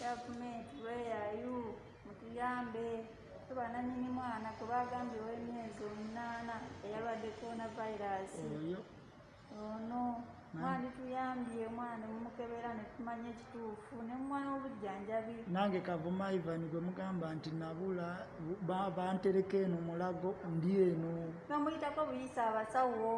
gavumenti weyayu mutuyambe tubananyini mwana kubagambye wemyezi omunaana eyalwadde corona virus ono mwali tuyambye omwana mumukebera netumanya ekituufu nemumwana obujjanjabi nange kavuma ivan gwe mugamba nti nabula bantereka eno mulago ndi eno nomuyitako buyisa abasawo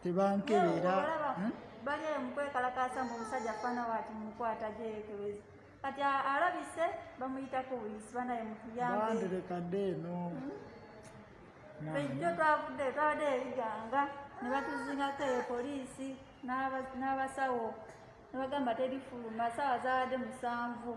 tebankebera hmm? bali eyo mukwekalakaasa mbu omusajja fana wati mukwata gyekebeza kati alabise bamuyitako buyisi banaye mutuyambeandirekadde eno hmm? ekyo twavudde twabadde ebiganga ne batuzingako eyo poliisi n'abasawo ne bagamba terifuluma saawa zaabadde musanvu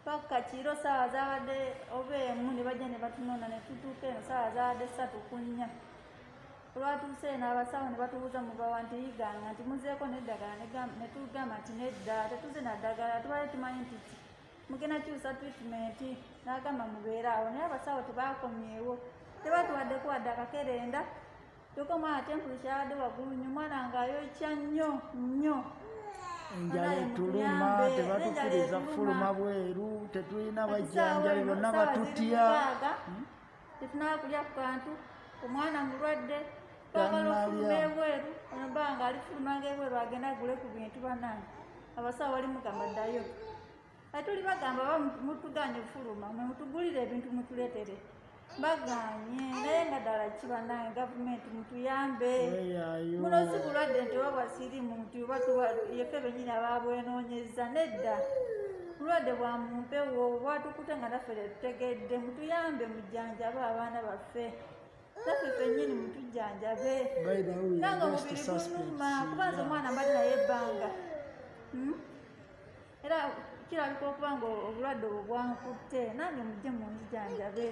paka kiro saawa zaabadde oba emu ne bajja ne batunona ne tutuuka eno saawa zaabadde ssatu ku nnya olwatuuse eno abasawo ne batubuuza mubawa nti yiganga nti muzeeko neddagala ne tugamba nti nedda tetuze naddagala tubale tumanyi nti mugenda kyusa tritimenti n'agamba mubeere awo naye abasawo tebaakomyewo tebatuwaddeko wadde akakerenda Toko mwana tempulu kyabadde waggulu nnyo mwana nga ayokya nnyo nnyo enjala etuluma tebatukiriza kufuluma bweru tetulina bajjanjali bonna batutya hmm? tetunaba kulya ku kantu omwana mulwadde twagala okufuluma ebweru onoba nga alifulumanga ebweru agenda agule ku bintu banange abasawo balimugamba ddayo kati tuli bagamba ba mutuganye fuluma mutugulire ebintu mutuletere baganye naye nga ddala kibanaye gavumenti mutuyambe muno si bulwadde nti oba bwasirimu nti oba yefe benyini ababwenonyeza nedda bulwadde bwa mumpewo bwatukute nga naffe tetutegedde mutuyambe mujjanjaba abaana baffe naffe fenyini mutujjanjabe nanga omubiri gunuma kubanza omwana mbali naye ebbanga hmm? era kirabika okuba nga obulwadde obwo bwankutte nange mujje munzijanjabe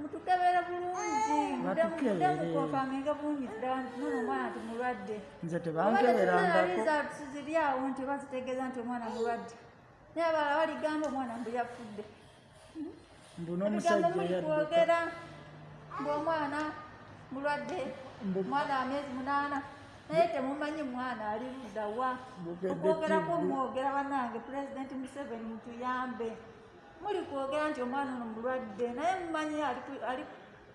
mutukebere bulungi mudemukofaminge bulungi ddala nono omwana nti mulwadde nze tebankeberangakziri awo nti oba zitegeeza nti omwana mulwadde naye abala baligamba omwana mbu yafudde mbuno omusajja yakwogera ng'omwana mulwadde mwana amezi munaana naye temumanyi mwana ali luddawa okwogerako mwogera banange pulezidenti museveni mutuyambe muli kwogera nti omwana ono mulwadde naye mumanyi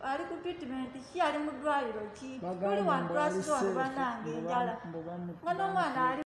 ali ku treatment ki ali mu ddwaliro ki muli wantwasiza wano banange enjala nga n'omwana ali